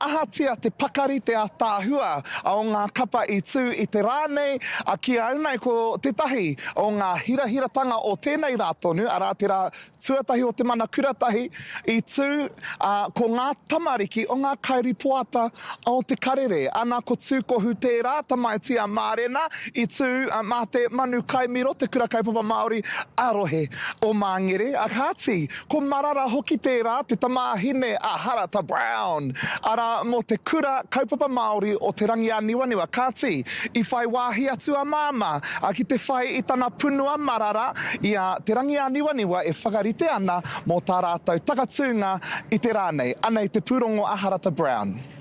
Ahatia te pakari te ataahua o ngā kapa i tū i te rā nei, a ki au nei ko tētahi o ngā hirahiratanga o tēnei rā tonu, arā te rā tuatahi o te mana kuratahi i tū, ā, ko ngā tamariki o ngā kairipoata o Te Karere. Ana ko Tūkohu tērā tamaiti a Mārena i tū mā te manu kaimiro, te Kura Kaupapa Māori ā-Rohe o Māngere. Kāti, Ko Marara hoki tērā, te tamāhine a Harata Brown, arā, mō te Kura Kaupapa Māori o Te Rangiāniwaniwa, kāti, i whai wāhi atu a Māmā ki te whai i tana punua marara i a Te Rangiāniwaniwa e whakarite ana mō tā rātou takatūnga i te rā nei. Anei te pūrongo a Harata Brown.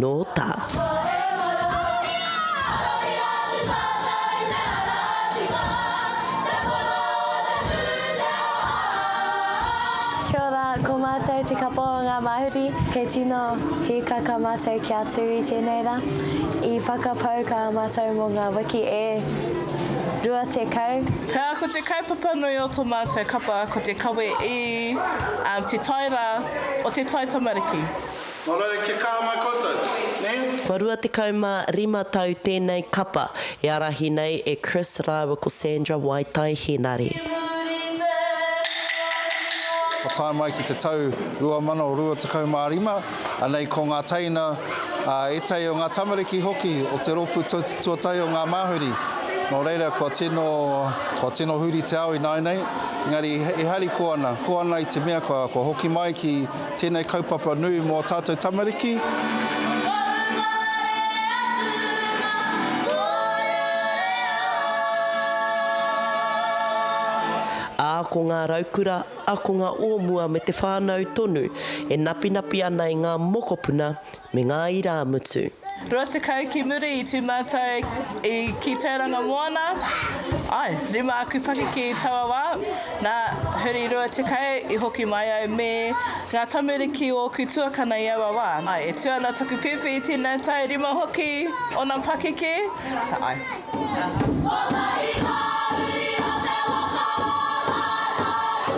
Nō tā. Kia ora, ko mātou te kapa o ngā Māori. He tino hīkaka mātou kia tū i tēnei rā. I whakapau kā mātou mō ngā wiki e rua tekau. Pea ko te kaupapa nui o tō mātou kapa ko te kawe i te tai rā o te tai tamariki. Nō reira kia kaha mai koutou, nē? Kua rua tekau mā rima tau tēnei kapa e ārahi nei e Chris rāua ko Sandra Waitai Henare. Ka tae mai ki te tau 2025, anei ko ngā teina, ā, ētahi o ngā tamariki hoki o te rōpū tuatahi o ngā māhuri. Nō reira, kua tino, kua tino huri te ao ināianei, engari e harikoa ana, koa ana i te mea kua, kua hoki mai ki, Tēnei kaupapa nui mō tātou tamariki. Ā, ko ngā raukura, ākonga o mua me te whānau tonu e napinapi ana i ngā mokopuna Me ngā irāmutu. Rua tekau ki muri i tū mātou i ki Tauranga Moana, ae, rima aku pakeke i taua wā, nā, huri rua tekau i hoki mai au me ngā tamariki o ōku tuakana i aua wā. Ae, e tū ana taku pēpi i tēnei tau, rima hoki ōna pakeke, ae.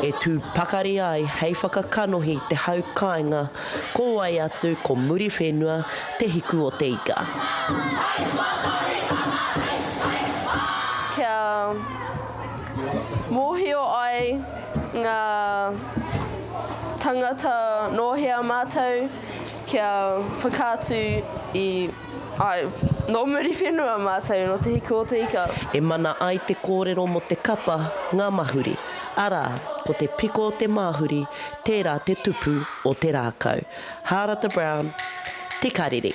E tū pakari ai hei whakakanohi te hau kāinga Ko wai atu ko Muriwhenua te hiku o te ika. Hei Potorikanga hei hei whā! Kia mōhio ai ngā tangata nō hea mātou kia whakaatu i. Āe. Nō Muriwhenua mātou, nō Te Hiku o Te Ika. E mana ai te kōrero mō te kapa ngā mahuri, arā, ko te piko o te māhuri, tērā te tupu o te rākau. Hārata Brown, Te Karere.